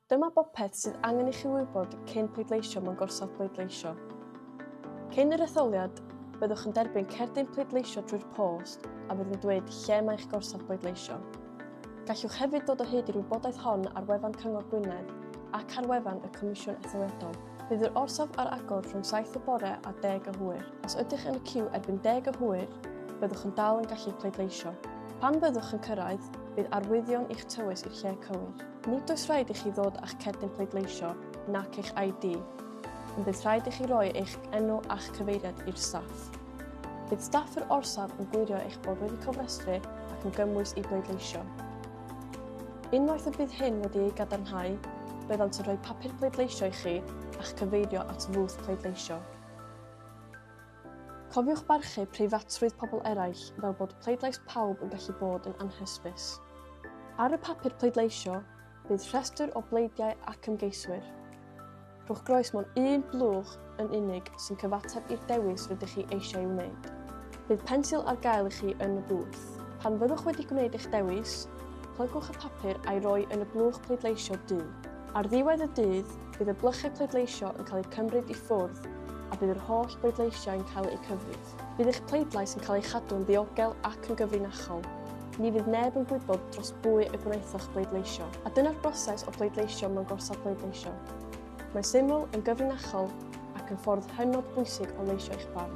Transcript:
Dyma bopeth sydd angen i chi wybod cyn pleidleisio mewn gorsaf pleidleisio. Cyn yr etholiad, byddwch yn derbyn cerdyn pleidleisio drwy'r post a fydd yn dweud lle mae eich gorsaf bleidleisio. Gallwch hefyd dod o hyd i'r wybodaeth hon ar wefan Cyngor Gwynedd ac ar wefan y Comisiwn Etholiadol. Bydd yr orsaf ar agor rhwng 7 y bore a 10 y hwyr. Os ydych yn y ciw erbyn 10 y hwyr, byddwch yn dal yn gallu pleidleisio. Pan fyddwch yn cyrraedd, bydd arwyddion i'ch tywys i'r lle cywir. Nid oes rhaid i chi ddod â'ch cerdyn pleidleisio nac eich ID, ond bydd rhaid i chi roi eich enw a'ch cyfeiriad i'r staff. Bydd staff yr orsaf yn gwirio eich bod wedi cofrestru ac yn gymwys i bleidleisio. Unwaith y bydd hyn wedi ei gadarnhau, byddant yn rhoi papur pleidleisio i chi a'ch cyfeirio at fwth pleidleisio. Cofiwch barchu preifatrwydd pobl eraill fel bod pleidlais pawb yn gallu bod yn anhysbys. Ar y papur pleidleisio, bydd rhestr o bleidiau ac ymgeiswyr. Rhowch groes mewn un blwch yn unig sy'n cyfateb i'r dewis rydych chi eisiau ei wneud. Bydd pensil ar gael i chi yn y bwth. Pan fyddwch wedi gwneud eich dewis, plygwch y papur a'i roi yn y blwch pleidleisio du. Ar ddiwedd y dydd, Bydd y blychau pleidleisio yn cael eu cymryd i ffwrdd a bydd yr holl bleidleisiau yn cael eu cyfrif. Bydd eich pleidlais yn cael ei chadw yn ddiogel ac yn gyfrinachol. Ni fydd neb yn gwybod dros bwy y gwnaethoch bleidleisio. A dyna'r broses o bleidleisio mewn gorsaf bleidleisio. Mae'n syml, yn gyfrinachol ac yn ffordd hynod bwysig o leisio eich barn.